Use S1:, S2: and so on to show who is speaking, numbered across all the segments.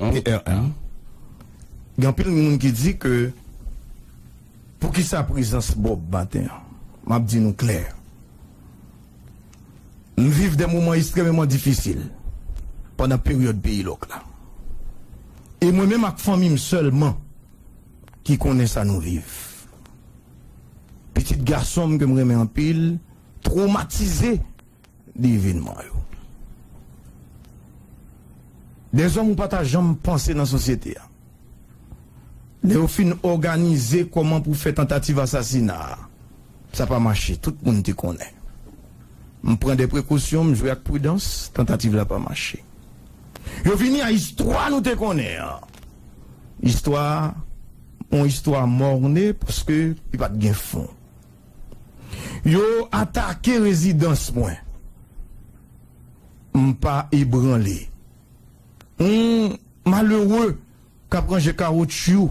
S1: PRM, Gen anpil moun ki di ke poukisa prezans Bob maten an? M ap di nou klè, m viv de moman estrememan difisil pandan peryòd peyi lòk la. E mwen menm ak fanmi m sèlman ki konnen sa nou viv. Pitit gason m ke m renmen anpil twomatize. de evenman yo. De zòm ou pa ta janm panse nan sosyete a. Lè yo fin òganize kòman pou fè tantativ asasina a, sa pa mache, tout moun te konnen. M pran de prekosyon, m jwe ak pridans, tantativ la pa mache. Yo vini a istwa nou te konnen an. Istwa a, yon istwa morne paske li pa t gen fon. Yo atake rezidans mwen. M pa ebranle. Yon malere k ap ranje kawotchyou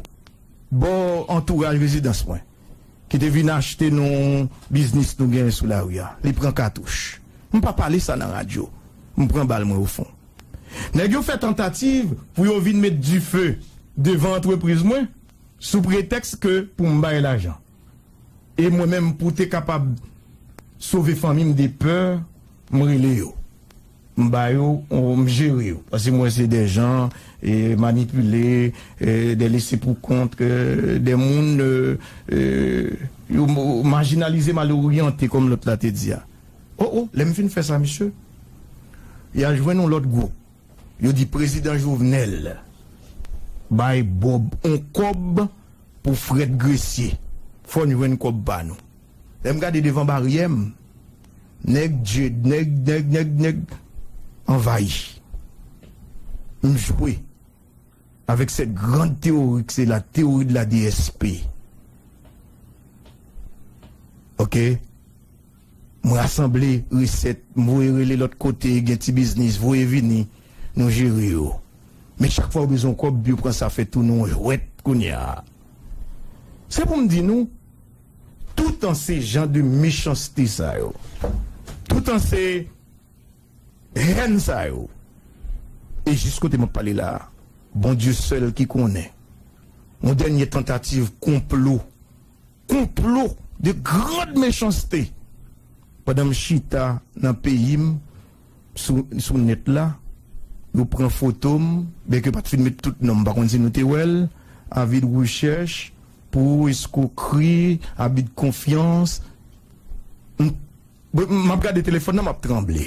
S1: bò antouraj rezidans mwen, ki te vin achte nan yon biznis nou genyen sou lari a, li pran katouch. M pa pale sa nan radyo. M pran bal mwen ofon. Nèg yo fè tantativ pou yo vin met dife devan antrepriz mwen sou pretèks ke pou m bay lajan. E mwen menm pou te kapab sove fanmi m de pè m rele yo m ba yo m jere yo paske m wè se de jan manipile de lese pou kont de moun yo majinalize mal oryante kòm lòt la te di a o o lè m fin fè sa misye ya jwenn yon lòt gwoup. Yo di prezidan jovenel bay bob on kob pou fret gresye fon jwenn kob pa nou lem gade devan baryem neg djed neg neg neg neg anvayi m jwe avek set grand teori kse la teori de la dsp ok. M rasanble resèt, m voye rele lòt kote gen ti biznis voye vini nou jere yo. Men chak fwa yo bezwen kòb yo pran sa fè tou nou jwèt kounya. Se pou m di nou toutan se jan de mechanste sa yo, toutan se hèn sa yo. E jis kote m ap pale la a Bondye sèl ki konnen yon dènye tantativ konplo. Konplo de grand mechanste pandan m chita nan peyi m sou nèt la yo pran foto m byen ke yo pat fin met tout non m pa konn si nou te wè l avi de rechèch pou eskokri abi de konfyans m ap gade telefòn nan m ap tranble.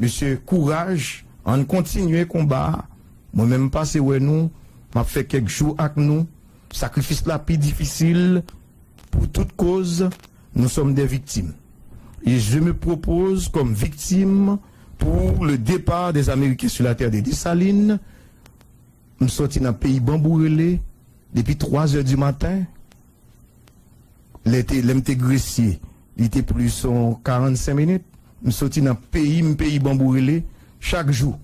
S1: Mesye kouraj ann kontinye konba a mwen menm m pase wè nou map fè kèk jou ak nou sakrifis la pi difisil pou tout koz nou sòm dè viktim e je me propose kòm viktim pou le départ des américains sur la terre de Dessalines m sòti nan peyi banbou rele depi 3 zè di maten. lè te lèm te gresye li te plis son 45 minit m soti nan peyim peyi banbou rele chak jou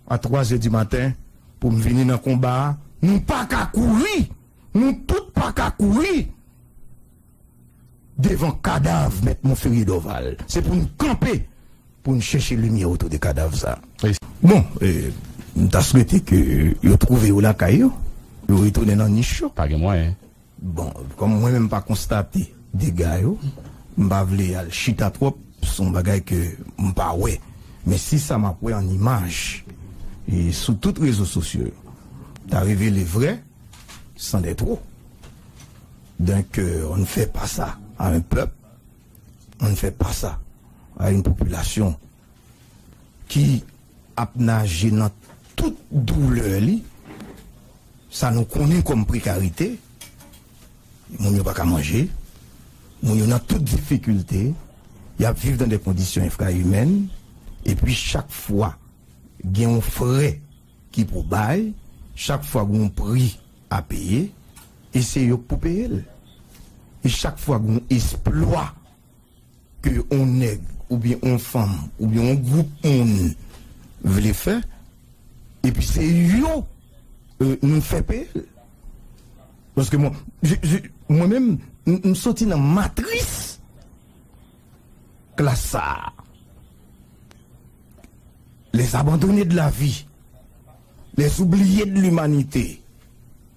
S1: a 3 zè di maten poum vini nan konba a nou paka kouri nou tout paka kouri devan kadav mèt monferrier dorval se poun kanpe poun chèche limyè otou de kadav sa bon m ta swete ke yo twouve yo lakay yo yo retounen nan nich yo. Pa gen mwayen.
S2: Bon, kòm
S1: mwen menm m pa konstate dega yo, m pa vle al chita twòp sou bagay ke m pa wè. Men si sa m ap wè an imaj e sou tout rezo sosyo yo ta revele vrè, c'en est trop d'un cœur, on ne fait pas ça à un peuple, on ne fait pas ça à une population. ki ap naje nan tout doulè li, sa nou konnen kòm prekarite, moun yo pa ka manje, moun yo nan tout difikilte, y ap viv nan de kondisyon enfraimèn, epi chak fwa gen yon frè ki pou bay, chak fwa gen yon pri a peye, e se yo k pou peye l. E chak fwa gen yon esplwa ke on nèg oubyen on fanm oubyen on gwoup moun vle fè epi se yo nou fè peye l. Paske mwen, mwen menm m soti nan matris klas sa a. Les abandonnés de la vie, les oubliés de l'humanité.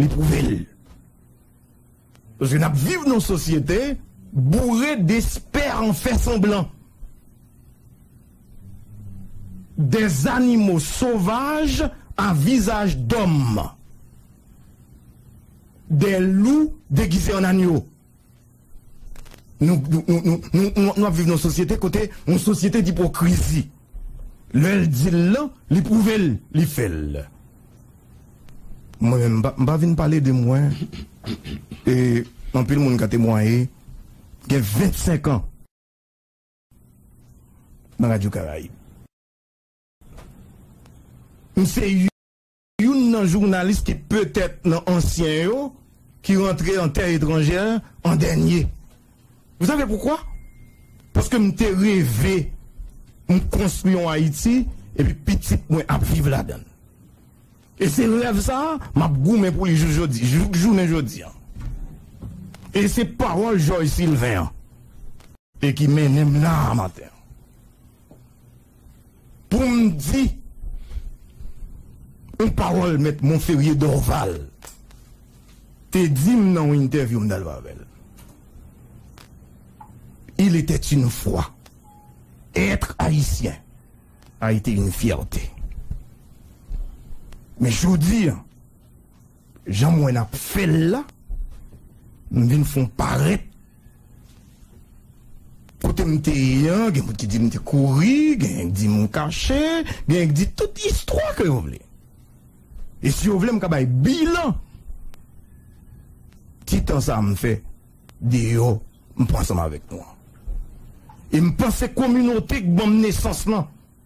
S1: Li pwouve l. Paske n ap viv nan yon sosyete boure despè an fè sanblan. Dè zanimo sovaj a vizaj dòm. Dè lou degize an anyo. Nou ap viv nan yon sosyete kote yon sosyete dipokrizi. Lè l di l lan, li pwouve l, li fè l. Mwen menm, m pa vin pale de mwen, e anpil moun ka temwaye, gen 25 an nan Radyo Karayib. M se. Youn nan jounalis ki petèt nan ansyen yo ki rantre an tè etranjè an dènye. Vous savez pourquoi? Paske m te reve m konstwi yon Ayiti epi pitit mwen ap viv ladan l. E se rèv sa a m ap goumen pou li jous jodi, jouk jounen jodi an. E se pawòl Jòj Silven an e ki mennen m la a maten an. Pou m di yon pawòl mèt Monferrier Dorval te di m nan yon entèvyou m t al fè avè l, Il était une fois, Être Haïtien a été une fierté. Men jodi an. Janm wè nap fèl la m vin fon parèt kotem te ye an gen moun ki dim te kouri genyen k dim m kache genyen k di tout istwa ke yo vle e si yo vle m ka bay bilan ti tan sa m fè deyò m pran ansanm avèk nou an e m panse kominote k banm nesans lan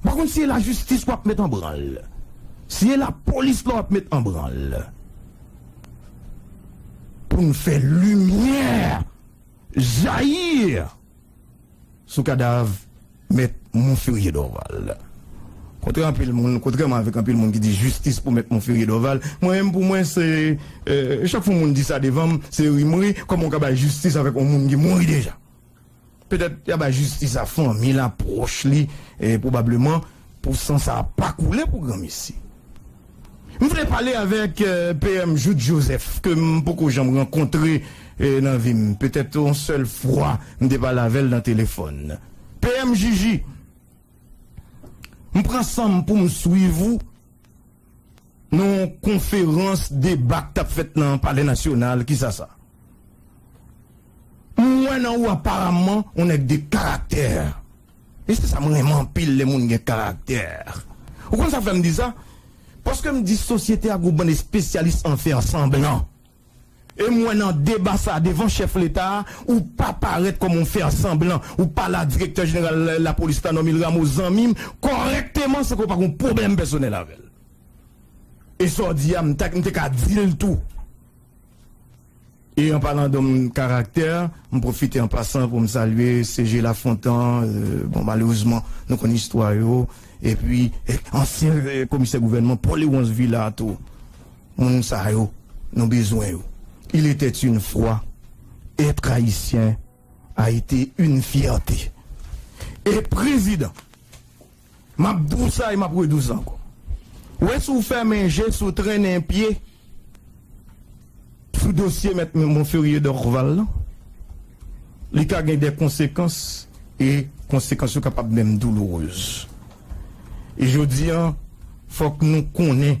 S1: M pa konn si e lajistis wap met anbranl, si e lapolis la wap met anbranl pou n fè limyè jayi sou kadav mèt Monferrier Dorval. Kontre anpil moun, kontrèman avèk anpil moun ki di jistis pou mèt Monferrier Dorval, mwen menm pou mwen se chak fwa yon moun di sa devan m se rimri, kòman w ka bay jistis avèk yon moun ki mouri deja? Petèt y a bay jistis a fanmi l a, pwòch li, pwobableman pou san sa a pa koule pou granmesi. M vle pale avèk PM Jouthe Joseph ke m poko janm rankontre nan vi m, petèt yon sèl fwa m te pale avè l nan telefòn. PM JJ, m pran san m pou m swiv ou. Nan yon konferans deba k t ap fèt nan Palè Nasyonal, kisa sa? M wè nan ou aparamman yon nèg de karaktè. E se sa m renmen anpil lè moun gen karaktè. Ou konn sa k fè m di sa? Paske m di sosyete a gen yon bann espesyalis an fè sanblan. E m wè nan deba sa a devan chèf leta a, ou pa parèt kòm yon fèsanblan, ou pale a direktè jeneral lapolis la Normil Rameau, zanmi m, kòrèkteman san ke w pa gen yon pwoblèm pèsonèl avè l. E sa w di a, m te ka di l tou. E an palan dòm karaktè, m pwofite an pasan pou m salye CG Lafontan, bon malerezman nou konn istwa yo, epi ansyen komisè gouvènman Paul Léonce Villard tou. Moun sa yo nou bezwen yo. Il était une fois être haïtien a été une fierté e prezidan map di w sa e map redi w sa ankò ou wè si w fèmen je si w trennen pye sou dosye mèt Monferrier Dorval lan li ka gen dè konsekans e konsekans yo kapab menm douloureuse e jodi an fòk nou konnen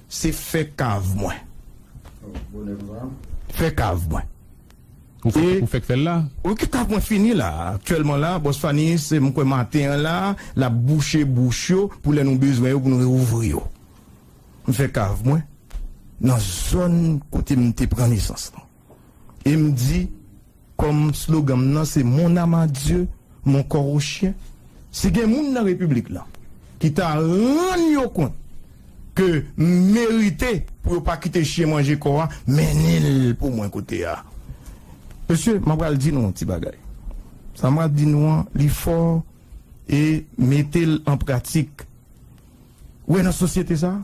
S1: Se fè kav mwen. Fè kav mwen.
S2: Ou fèk fèl la? Wi fè kav mwen fini
S1: la aktyèlman la Boss Fanise m kwè maten an la lap bouche bouch yo pou lè nou bezwen yo pou nou reouvri yo m fè kav mwen nan zòn kote m te pran nesans lan e m di Kòm slogan m nan se Mon âme à Dieu, mon corps au chien, si gen moun nan Repiblik lan ki ta rann yo kont ke m merite pou yo pa kite chyen manje kò a, mennen l pou mwen kote a. Mesye, m apral di nou yon ti bagay. Sa m pral di nou an, li fò e mete l an pratik. Ou wè nan sosyete sa a?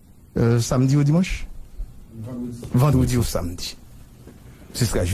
S1: Samdi ou dimanch? Vandredi ou samdi.